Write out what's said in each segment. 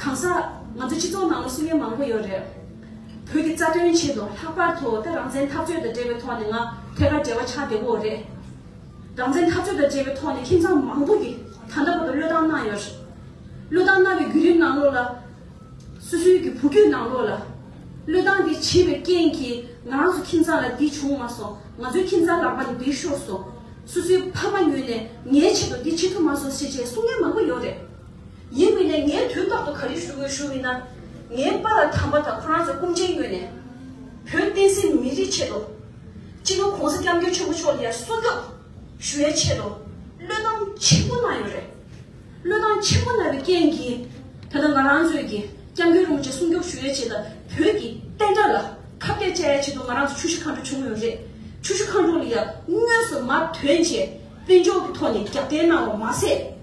གང་ཟག་ང་ཚོའི་སྤྱི་ཚོགས་ནང་ལ་སྲུང་ཡོལ་མང་པོ་ཡོད་རེད། བོད་ཀྱི་རྩ་དོན་ཆེད་དུ་ལྷག་པར་དུ་ད་རང་བཙན་འཐབ་རྩོད་དང་འབྲེལ་བའི་ཐོག་ནས་ང་ཐད་ཀར་འབྲེལ་བ་ཆགས་བདེ་བོ་རེད། རང་བཙན་འཐབ་རྩོད་དང་འབྲེལ་བའི་ཐོག་ནས་ཁྱིམ་ཚང་མང་པོ་གིས་ད་ལྟ་བར་དུ་བློས་བཏང་གནང་ཡོད་རེད། བློས་བཏང་གནང་བའི་བརྒྱུད་རིམ་ནང་ལོགས་ལ། སོ་སོའི་གི་བུ་རྒྱུད་ནང་ལོགས་ལ། བློས་བཏང་དེ་བྱས་པའི་རྐྱེན་གྱིས་ང་རང་ཚོ་ཁྱིམ་ཚང་ལ་འདི་བྱུང་མ་སོང་ང་ཚོའི་ཁྱིམ་ཚང་ལག་པ་ནས་འདི་ཤོར་སོང། སོ་སོའི་ཕ་མ་ཉོས་ནས་ངའི་ཆེད་དུ་འདི་བྱེད་ཐུབ་མ་སོང་ཞེས་བཅས་སྲུང་ཡོལ་མང་པོ་ཡོད་རེད། ཡིན་མིན་ནས་ངས་དུས་རྟག་ཏུ་ག་རེ་ཞུ་དགོས་ཞུ་མིན་ན། ངའི་པ་ལ་དམ་པ་དང་ཁོ་རང་ཚོའི་སྐུ་མཁྱེན་ཡོད་ནས། བོད་བསྟན་སྲིད་མི་རིགས་ཆེད་དུ། སྤྱི་ནོར་གོང་ས་སྐྱབས་མགོན་ཆེན་པོ་མཆོག་ལ་ཡར་སྲུང་སྐྱོབ་ཞུ་བའི་ཆེད་དུ་བློས་བཏང་ཆེན་པོ་གནང་ཡོད་རེད། བློས་བཏང་ཆེན་པོ་གནང་བའི་རྐྱེན་གྱིས་ད་ལྟ་ང་རང་ཚོས་ཀྱི་སྐྱབས་མགོན་རུང་བཅས་སྲུང་སྐྱོབ་ཞུ་བའི་ཆེད་དུ་བོད་ཀྱི་བསྟན་དགྲ་ལ་ཁ་བཏད་བཅའ་ཡའི་ཆེད་དུ་ང་རང་ཚོ་ཆུ་བཞི་མཁའ་འགྲོ་བྱུང་ཡོད་རེད། ཆུ་བཞི་མཁའ་འགྲོ་ལ་ཡང་དངོས་སུ་མར་དོན་ཆེད་དཔེ་འཇོག་གི་ཐོག་ནས་རྒྱབ་རྟེན་གནང་བ་མ་ཟད།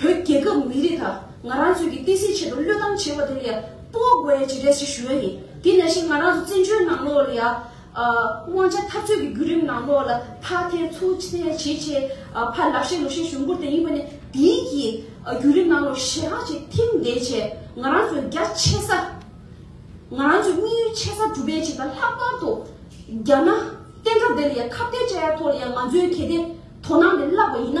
བོད་རྒྱལ་ཁབ་མི་རིགས་དང་ང་རང་ཚོས་ཀྱི་བསྟན་སྲིད་ཆེད་དུ་བློས་བཏང་བྱེད་པ་དེ་ལ་ཡང་སྤོ་དགོས་ཡའི་བྱེད་ལས་ཤིག་ཞུ་ཡ་ཡིན། དེ་ནས་བཞིན་ང་རང་ཚོ་བཙན་བྱོལ་ནང་ལོགས་ལ་ཡང། དབང་ཆ་འཐབ་རྩོད་ཀྱི་བརྒྱུད་རིམ་ནང་ལོགས་ལ་ཕར་ཐེན་ཚུར་ཐེན་བྱས་བྱས། ཕར་ལག་ཤེས་ལུག་ཤེས་ཞུ་འགུར་དེ་ཡིན་པ་ནས་དེའི་གྱི་བརྒྱུད་རིམ་ནང་ལོགས་ཞེ་དྲག་ཅིག་ཐིམ་བསྡད་བྱས་ང་རང་ཚོའི་རྒྱ་ཆེ་ས། ང་རང་ཚོའི་དམིགས་ཡུལ་ཆེ་ས་གྲུབ་པའི་བྱེད་ལ་ལྷག་པར་དུ། རྒྱ་ནག་བསྟན་དགྲ་དེ་ལ་ཡང་ཁ་བརྡའི་བཅའ་ཡ་ཐོག་ལ་ཡང་ང་ཚོའི་གལ་ཏེ་དོ་སྣང་དེ་བརླགས་པ་ཡིན་ན།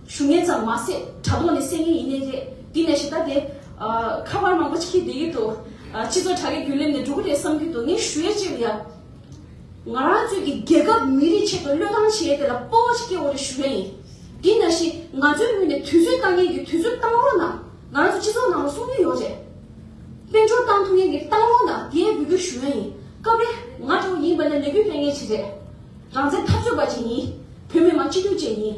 ཞུ་ངན་ཙམ་མ་ཟད་དྲ་ཐོག་ནས་བསད་ངན་ཡིན་ནི་རེད་དེ་ནས་ཞེ་ད་དེ། ཁ་པར་མང་པོ་ཅིག་གིས་དེ་ཡུལ་དུ། སྤྱི་ཚོགས་དྲ་རྒྱའི་རྒྱུན་ལེབ་ནས་འགྲོ་གི་རེད་བསམ་གྱི་འདུག་ངས་ཞུ་ཡ་ཅིག་ལ། ང་རང་ཚོས་ཀྱི་རྒྱལ་ཁབ་མི་རིགས་ཆེད་དུ་བློས་བཏང་བྱས་དེ་ལ་སྤོ་བ་ཅིག་སྐྱེ་འོ་རེ་ཞུ་ཡ་ཡིན། དེ་ན་བཞིན་ང་ཚོའི་ངོས་ནས་དུས་ཚོད་བཏང་མཁན་གྱིས་དུས་ཚོད་བཏང་རོགས་གནང། ང་རང་ཚོ་སྤྱི་ཚོགས་ནང་ལ་གསུང་གི་ཡོད་རེད། དཔལ་འབྱོར་བཏང་ཐུབ་མཁན་གྱིས་བཏང་རོགས་གནང་དེ་ཡན་འབུལ་རྒྱུ་ཞུ་ཡ་ཡིན། སྐབས་རེ་ང་འདྲ་བོ་ཡིན་པ་ནི་ལས་འགུལ་སྤེལ་མཁན་ཅིག་རེད། རང་བཙན་འཐབ་རྩོད་པ་ཅིག་ཡིན། བོད་མི་མང་སྤྱི་འཐུས་བཅས་ཡིན།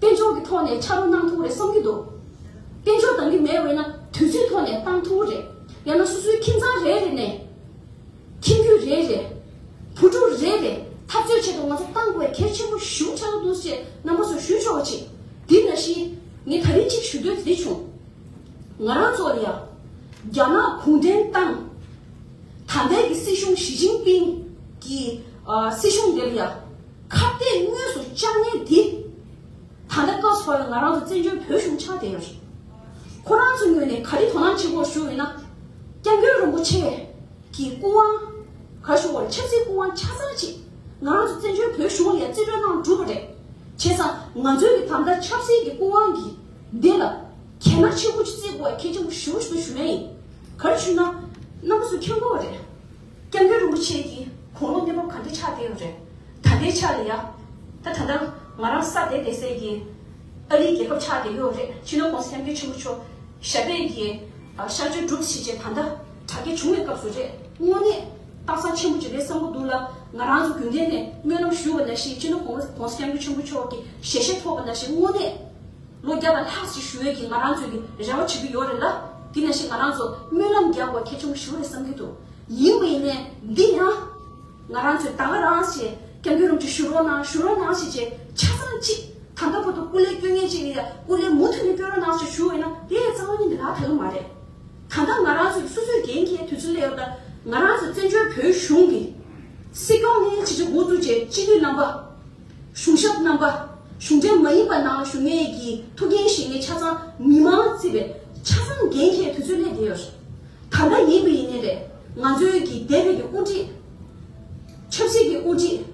དཔལ་འབྱོར་གྱི་ཐོག་ནས་ཕྱ་རོལ་གནང་ཐུབ་རེ་བསམ་གྱི་འདུག་དཔལ་འབྱོར་འདང་གི་མེད་འོས་ན་དུས་ཚོད་ཐོག་ནས་གཏང་ཐུབ་རེད་ཡང་ན་སོ་སོའི་ཁྱིམ་ཚང་རེ་རེ་ནས་ཁྱིམ་རྒྱུད་རེ་རེ་བུ་ཕྲུག་རེ་རེ་འཐབ་རྩོད་བྱེད་དུ་ང་ཚོ་གཏང་དགོས་བས་གལ་ཆེན་པོ་ཞུ་འཆར་འདུག་ཅེས་རྣམ་པ་ཚོར་ཞུ་ཆོག་གི་ཆེད་འདི་ན་ཤི་ངས་ད་རིང་གཅིག་ཞུ་འདོད་འདི་བྱུང། ང་རང་ཚོ་ལ་ཡང་རྒྱ་ནག་གུང་ཁྲན་ཏང་ད་ལྟའི་གི་སྲིད་གཞུང་ཞི་ཅིང་པིང་གི་སྲིད་གཞུང་འདི་ལ་ཡང། ཁ་བརྡས་དངོས་སུ་བཅར་ཉེན་དེ། ད་ལྟ་སྐབས་སུ་བབས་པའི་ང་རང་དང་བཙན་བྱོལ་བོད་གཞུང་ཆགས་བསྡད་ཡོད་རེད། ཁོ་རང་ཚོའི་ངོས་ནས་ག་རེ་དོ་སྣང་བྱེད་དགོས་ཞུ་འོས་ན། སྐྱབས་མགོན་རིན་པོ་ཆེ། གི་སྐུ་དབང། ག་ཞུ་བར་ཆབ་སྲིད་སྐུ་དབང་ཆ་ཚང་ཅིག་ང་རང་ཚོ་བཙན་བྱོལ་བོད་གཞུང་ལ་ཡང་རྩིས་སྤྲོད་གནང་འགྲུབ་པ་རེད། བྱས་ཙང་ང་ཚོའི་གི་དམ་དར་ཆབ་སྲིད་ཀྱི་སྐུ་དབང་གི་འདི་ལ། གལ་ན་ཆེ་བུ་ཅིག་རྩིས་དགོས་བ་གལ་ཆེན་པོ་ཞུ་ཞུ་ཡ་ཡིན། ག་རེ་ཞུས་ན། ནམ་སུ་ཁྱོད་མགོ་བ་རེད། སྐྱབས་མགོན་རིན་པོ་ཆེ་གྱིས་གུང་ལོག་གནས་བབ་ག་འདྲའི་ཆགས་བསྡད་ཡོད་རེད་ད་ལྟའི་ཆ་ལ་ཡ། ད་ད་ནང་ང་རང་ས་དེ་བསྡད་ཟེར་གྱིན་ཨ་རིའི་རྒྱལ་ཁབ་ཆགས་བསྡད་ཡོད་རེད་ཕྱི་ནང་གོང་ས་ཡམ་གྱི་ཆོས་འབུ་ཆོ་ཞབས་པད་ཀྱི་ཤར་ཆོས་སྒྲུབ་བྱེད་ཅེས་ད་ལྟ་དྲ་རྒྱ་བྱུང་བའི་སྐབས་སུ་རེད་དངོས་གནས་རྟགས་མཚང་ཆེན་པོ་གཅིག་རེད་བསམ་གྱི་འདུག་ལ་ང་རང་ཚོ་རྒྱུན་ལྡན་ནས་སྨོན་ལམ་ཞུ་བ་ན་ཞིག་ཕྱི་ནང་གོང་ས་ཡམ་གྱི་ཆོས་འབུ་ཆོ་གི་ཞལ་བཞེས་ཐོབ་པ་ན་ཞིག་དངོས་གནས་ལོ་བརྒྱ་དང་ལྷག་ཅིག་ཞུ་འོས་ཀྱི་ང་རང་ཚོས་ནི་རེ་བ་བྱེད་ཀྱི་ཡོད་རེད་ལ། དེ་ནས་བཞིན་ང་རང་ཚོ་སྨོན་ལམ་རྒྱག་དགོས་གལ་ཆེན་པོ་ཞུ་རེད་བསམ་གྱི་འདུག་ཡིན་པའི་ནས་འདི་ཡང། ང་རང་ཚོས་ད་ག་རང་ཞེས་སྐྱབས་མགོན་རུམ་ཅིག་ཞུ་རོགས་གནང་ཞུ་རོགས་གནང་ཞེས་ཆེ་ཆ་ཚང་གཅིག་ད་ལྟ་བར་དུ་སྐུ་ལས་སྐྱོན་ངན་ཅིག་ཡིན་ཡང་སྐུ་ལས་མུ་མཐུད་ནས་སྐྱོན་རོགས་གནང་ཞེས་ཞུ་འོས་ན་དེ་ཡང་གཙང་མ་ཉིད་འདི་ལག་ཐལ་མ་རེད། ད་ལྟ་ང་རང་ཚོས་སོ་སོའི་འགན་ཁྱེར་དུས་ཚོད་སླེབས་ལ། ང་རང་ཚོས་བཙན་བྱོལ་བོད་གཞུང་གི། སྲིད་སྐྱོང་ནས་ཕྱི་ཕྱི་འགོ་བཙུགས་རྗེས་སྤྱི་འཐུས་རྣམ་པ། གཞུང་ཞབས་རྣམ་པ། གཞུང་འབྲེལ་མ་ཡིན་པ་ནང་ལ་ཞུགས་མཁན་གྱི་ཐུགས་འགན་བཞེས་མཁན་ཆ་ཚང་མི་མང་བརྩིས་པའི་ཆ་ཚང་འགན་འཁྱེར་དུས་ཚོད་སླེབས་བསྡད་ཡོད། ད་ལྟ་ཡིན་དགུ་ཡིན་ནས་རེད། ང་ཚོའི་གི་སྡེ་བའི་གི་དབུ་ཁྲིད། ཆབ་སྲིད་ཀྱི་དབུ་ཁྲིད།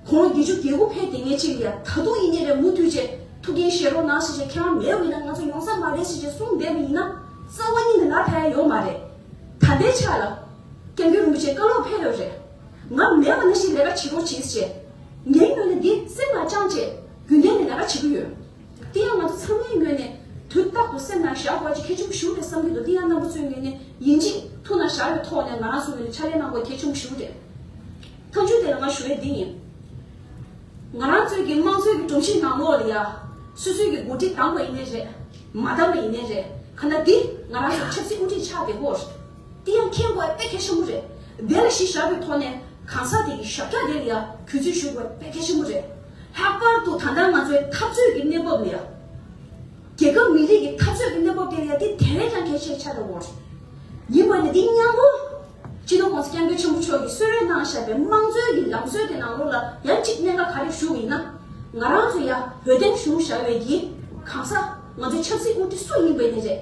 གོང་ལོ་བརྒྱད་ཅུ་གྱ་དགུ་ཕེབས་དེ་ངས་ཅིག་ཡ་ད་དུང་ཡིན་ནས་རེད་མུ་མཐུད་ཅེས་ཐུགས་འགན་བཞེས་རོགས་གནང་ཞེས་བྱས་ཁྱེད་རང་མེད་འོས་ན་ང་ཚོ་ཡོང་ས་མ་རེད་ཞེས་བྱས་གསུངས་བསྡད་པ་ཡིན་ན་རྩ་བ་ཉིད་ནས་ལ་ད་ཡ་ཡོད་མ་རེད། ད་ལྟའི་ཆ་ལ། སྐྱབས་འགྱུར་རིན་པོ་ཆེ་བཀའ་སློབ་ཕེབས་ཡོད་རེད། ང་མེད་པ་ན་ཞིག་ལས་ཀ་བྱེད་དོ་བྱེད་ཅེས། ངའི་ངོས་ནས་འདི་སེམས་ལ་བཅངས་ཅེས་རྒྱུན་ལྡན་ནས་ལས་ཀ་བྱེད་ཀྱི་ཡོད། དེ་ཡང་ང་ཚོ་ཚང་མའི་ངོས་ནས་དུས་རྟག་ཏུ་སེམས་ནང་བཞག་དགོས་ཀྱི་གལ་ཆུང་ཞུ་རེད་བསམ་གྱི་འདུག་དེ་ཡང་རྣམ་པ་ཚོའི་ངོས་ནས་ཡིན་གཅིག་ཐུགས་ནང་བཞག་པའི་ཐོག་ནས་ང་རང་ཚོའི་ངོས་ནས་ཕྱག་ལས་གནང་དགོས་གལ་ཆུང་ཞུ་རེད། མཐའ་མཇུག་དེ་ལ་ང་ཞུ་འོས་འདི་ཡིན། ང་རང་ཚོའི་གི་དམངས་གཙོའི་གི་སྒྲོམ་གཞིའི་ནང་ལོགས་ལ་ཡ། སུས་སུས་ཀྱི་འགོ་ཁྲིད་བདམས་པ་ཡིན་ནི་རེད། མ་བདམས་པ་ཡིན་ནི་རེད། ཁ་ན་འདི་ང་རང་ཚོའི་ཆབ་སྲིད་དབུ་ཁྲིད་ཆགས་དེ་སྐོར། དེ་ཡང་མཁྱེན་དགོས་དཔེ་གལ་ཆེན་པོ་རེད། དེ་ལ་གཞི་བཞག་པའི་ཐོག་ནས་གང་ཟག་དེ་ཡི་ཞབས་ཀྱག་དེ་ལ་ཡང་གུས་བརྩི་ཞུ་དགོས་དཔེ་གལ་ཆེན་པོ་རེད། ལྷག་པར་དུ་ད་ལྟ་ང་ཚོའི་འཐབ་རྩོད་ཀྱི་གནས་བབ་ལ་ཡང། རྒྱལ་ཁབ་མི་རིགས་ཀྱི་འཐབ་རྩོད་ཀྱི་གནས་བབ་དེ་ལ་ཡང་དེ་དེ་བས་ཀྱང་གལ་ཆེར་ཆགས་པའི་དབང་རེད། ཡིན་པ་ནི་འདི་སྙམ་མོ། སྤྱི་ནོར ྋགོང་ས ྋསྐྱབས་མགོན་ཆེན་པོ་མཆོག་གིས་གསོལ་རས་གནང་བཞག་པའི་དམངས་གཙོའི་གྱི་ལམ་སྲོལ་གྱི་ནང་ལོགས་ལ་ཡང་གཅིག་གནད་འགག་ག་རེ་བཞུགས་ཡིན་ན། ང་རང་ཚོ་ཡང་བོད་བསྟན་བཞུགས་བཞག་བའི་གྱི་གང་ཟག་ང་ཚོའི་ཆབ་སྲིད་དབུ་ཁྲིད་སུ་ཡིན་པ་ནི་རེད།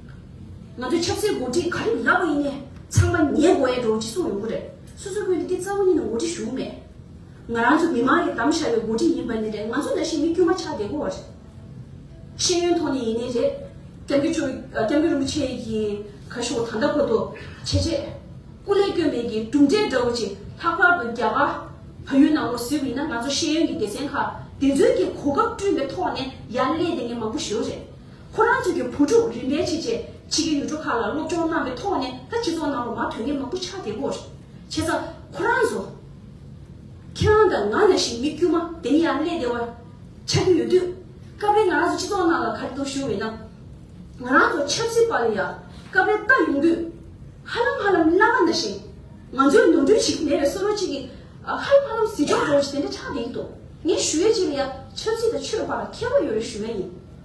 ང་ཚོའི་ཆབ་སྲིད་འགོ་ཁྲིད་ག་རེ་ལབ་པ་ཡིན་ནའི་ཚང་མ་ཉེས་འགོ་ཡའི་འགྲོ་ཅི་གསུང་ཡོང་གི་རེད་སོ་སོའི་བོད་འདི་གི་རྩ་བ་ཉིད་ནས་འགོ་ཁྲིད་ཞུགས་མེད་ང་རང་ཚོ་མི་མང་གི་དམ་བཞག་པའི་འགོ་ཁྲིད་ཡིན་པ་ནི་རེད་ང་ཚོ་འདྲ་ཞིག་མི་དཀྱུས་མ་ཆགས་བསྡད་དགོས་བ་རེད་ཤེས་ཡོན་ཐོག་ནས་ཡིན་ནའི་རེད་སྐྱབས་རྒྱུ་ཆོས་སྐྱབས་རྒྱུ་རིན་པོ་ཆེ་ཡི་ག་ཞོག་ད་ལྟ་ཁོ་ཐོ་ཆེ་ཆེ་སྐུ་ལས་སྐྱོན་མེད་ཀྱི་གྲུབ་འབྲས་འདྲ་བོ་ཅིག་ལྷག་པར་དུ་རྒྱ་གར་བལ་ཡུལ་ནང་ལོག་ཟེར་བ་ཡིན་ན་ང་ཚོ་ཤེས་ཡོན་གྱི་སྡེ་ཚན་ཁག་དེ་ཚོའི་གི་གོ་སྐབས་བསྐྲུན་པའི་ཐོག་ནས་ཡར་ཀླད་དེ་ངས་མང་པོ་ཞུ་རེད་ཁོ་རང་ཚོ་གི་བུ་ཕྲུག་རིམ་པས་ཆེས་ཆེ་ཆེ་གི་ཡུལ་གྲུ་ཁག་ལ་སློབ་སྦྱོང་གནང་བའི་ཐོག་ནས་ད་སྤྱི་ཚོགས་ནང་ལོ་མ་དོན་གནད་མང་པོ་ཆགས་བསྡད་པོ་བྱས་ཙང་ཁོ་རང་ཚོ། ཁྱེད་རང་དང་ང་ཡང་བཞིན་མི་དཀྱུས་མ་དེ་ནི་ཡང་ཀླད་བདེ་བ་ཆགས་ཀྱི་ཡོད་དུས། སྐབས་རེ་ང་རང་ཚོ་སྤྱི་ཚོགས་ནང་ལ་ག་རེ་དུ་བཞུགས་འོས་ན། ང་རང་ཚོ་ཆབ་སྲིད་པ་ལ་ཡང་སྐབས་རེ་ལྟ་ཡོང་དུས། ཧ་ལམ་ཧ་ལམ་བླ་མ་ན་བཞིན་ང་ཚོའི་ནོར་འཁྲུལ་ཞིག་མེད་པའི་བསོད་རོགས་གཅིག་གིས་ཧ་ལམ་ཧ་ལམ་ཟིན་ཆོག་འགྲོ་བ་ཞིག་དེ་འདྲ་ཆགས་བསྡད་ཀྱི་འདུག་ངས་ཞུ་ཡས་ཅིག་ལ་ཡང་ཆབ་སྲིད་དང་ཆོས་པར་མཁས་པ་ཡོད་རེ་ཞུ་ཡས་ཡིན།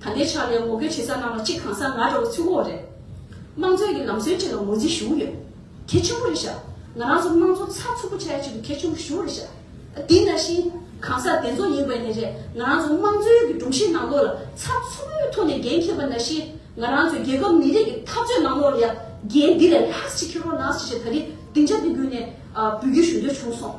ད་ལྟའི་ཆར་ལས་འགོ་འཁྱོལ་བྱེད་ས་རྣམས་ལ་གཅིག་གང་ས་ང་རོ་ཚུགས་འོག་རེད། དམངས་གཙོའི་གི་ལམ་སྲོལ་གཅིག་ལ་ངོས་འཛིན་ཞུ་གི་ཡོད། གལ་ཆེན་པོ་རེད་ཤག་ང་རང་ཚོ་དམངས་གཙོ་ཚགས་ཚུད་པོ་བྱས་ཆེད་དུ་གལ་ཆེན་པོ་ཞུ་རེད་ཤག་དེ་འདྲ་ཞིག་གང་ས་དེ་ཚོ་ཡིན་པ་ནས་རེད་ང་རང་ཚོ་དམངས་གཙོའི་གི་སྒྲོམ་གཞིའི་ནང་ལོགས་ལ་ཚགས་ཚུད་པོའི་ཐོག་ནས་འགན་འཁྱེར་པ་ན་ཞིག་ང་རང་ཚོའི་རྒྱལ་ཁབ་མི་རིགས་གི་འཐབ་རྩོད་ནང་ལོགས་ལ་ཡང་འགན་འདི་ལས་ལྷག་ཅིག་འཁྱེར་རོགས་གནང་ཞེས་ད་རིང་སྡིངས་ཆ་འདི་བརྒྱུད་ནས་འབུལ་རྒྱུ་ཞུ་འདོད་བྱུང་སོང།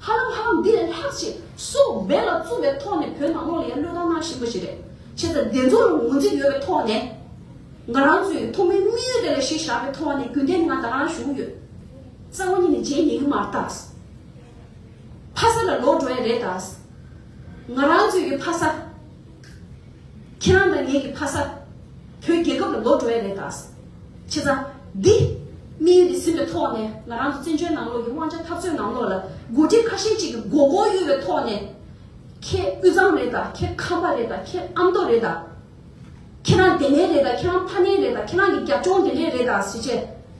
ཧ་ལམ་ཧ་ལམ་འདི་ལས་ལྷག་ཅིག་སུ་འབད་ལ་བརྩོན་པའི་ཐོག་ནས་བོད་ནང་ལོག་ལ་ཡང་བློས་བཏང་གནང་བཞིན་པ་ཞིག་རེད། བྱས་ཙང་བདེན་རྫུན་ལ་ངོས་འཛིན་ཡོད་པའི་ཐོག་ནས། ང་རང་ཚོས་ཐོག་མའི་དམིགས་ཡུལ་དེ་ལ་གཞི་བཞག་པའི་ཐོག་ནས་རྒྱུན་ལྡན་ངང་ད་ལང་བཞུགས་ཡོད། རྩ་བ་ཉིད་ནས་རྗེས་ཉེ་གི་མ་རྟ། ཕ་ས་ལ་ལོག་འགྲོ་ཡ་རེད་ད། ང་རང་ཚོས་ཀྱི་ཕ་ས། ཁྱེད་རང་དང་ངེད་ཀྱི་ཕ་ས། བོད་རྒྱལ་ཁབ་ལ་ལོ་འགྲོ་ཡ་རེད་ད། ཁྱེད་རང། འདི། དམིགས་ཡུལ་འདི་ཟིན་པའི་ཐོག་ནས་ང་རང་ཚོ་བཙན་བྱོལ་ནང་ལོགས་ཀྱི་དབང་ཆ་འཐབ་རྩོད་ནང་ལོགས་ལ་འགོ་ཁྲིད་ཁ་ཞེ་གཅིག་གི་མགོ་སྐོར་གཡོ་བའི་ཐོག་ནས། ཁྱེད་དབུས་གཙང་རེད་ད་ཁྱེད་ཁམས་པ་རེད་ད་ཁྱེད་ཨ་མདོ་རེད་ད། ཁྱེད་རང་དེ་ནས་རེད་ད་ཁྱེད་རང་ཕ་ནས་རེད་ད་ཁྱེད་རང་གི་རྒྱབ་ལྗོངས་དེ་འདྲས་རེད་ད་ཟེར་ཆེད།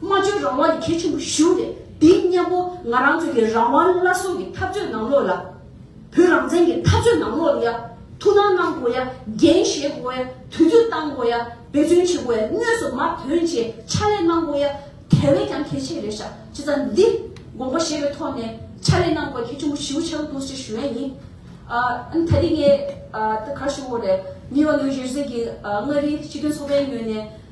སྨྲ་བརྗོད་རང་དབང་ནི་གལ་ཆེན་པོ་ཞུ་སྟེ་འདི་སྙམ་མོ་ང་རང་ཚོ་ཡི་རང་དབང་སླར་གསོ་གི་འཐབ་རྩོད་ནང་ལོག་ལ། བོད་རང་བཙན་གི་འཐབ་རྩོད་ནང་ལོག་ཡ། ཐུགས་སྣང་གནང་དགོས་ཡ་འགན་བཞེས་དགོས་ཡ་དུས་ཚོད་བཏང་དགོས་ཡ་འབད་བརྩོན་བྱེད་དགོས་ཡ་དངོས་སུ་མར་དོན་བཅས་ཕྱག་ལས་གནང་དགོས་ཡ་དེ་བས་ཀྱང་གལ་ཆེ་རེད་ཤག་ཅེས་རྩ་འདི་དགོངས་པ་བཞེས་པའི་ཐོག་ནས་ཕྱག་ལས་གནང་དགོས་གལ་ཆེན་པོ་ཞུ་ཆེད་འདུག་ཅེས་ཞུ་ཡ་ཡིན། ཨ་ད་རིང་ངས་ད་གར་ཞུ་འོ་རེད་མི་བ་ལོའི་གཞིར་གཟིགས་ཀྱིས་མངའ་རིས་སྤྱི་མཐུན་ཚོགས་པའི་ངོས་ནས།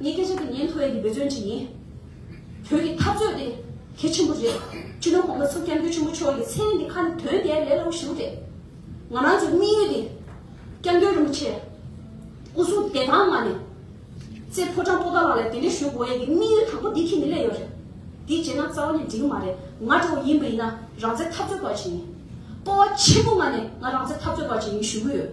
ངས་སྐད་ཆ་འདི་ཉན་ཐོ་ཡན་གྱི་འབད་བརྩོན་བྱེད་ཡིན། བོད་ཀྱི་འཐབ་རྩོད་དེ་གལ་ཆེན་པོ་རེད། སྤྱི་ནོར་གོང་ས་སྐྱབས་མགོན་ཆེན་པོ་མཆོག་གིས་མཚན་འདི་ཁ་ནས་དོན་དེ་ལས་སླ་བོ་ཞིག་རེད། ང་རང་ཚོའི་དམིགས་ཡུལ་དེ་སྐྱབས་མགོན་རིན་པོ་ཆེ་སྐུ་གསུང་བདེ་ཐང་ངང་ནས་ཙེ་ཕོ་ཀྲང་པོ་ཏཱ་ལགས་ལ་དེ་འདྲའི་ཞུ་དགོས་ཡན་གྱི་དམིགས་ཡུལ་དང་པོ་འདི་ཁྱེད་ནས་གླས་ཡོད་རེད། འདི་བྱས་ན་རྩ་བ་ནས་འགྲིག་གི་མ་རེད་ང་གྲོགས་པོ་ཡིན་པ་ཡིན་ན་རང་བཙན་འཐབ་རྩོད་པ་བྱེད་ཡིན། སྤོ་བ་ཆེན་པོ་ངང་ནས་ང་རང་བཙན་འཐབ་རྩོད་པ་བྱེད་ཡིན་ཞུ་གི་ཡོད།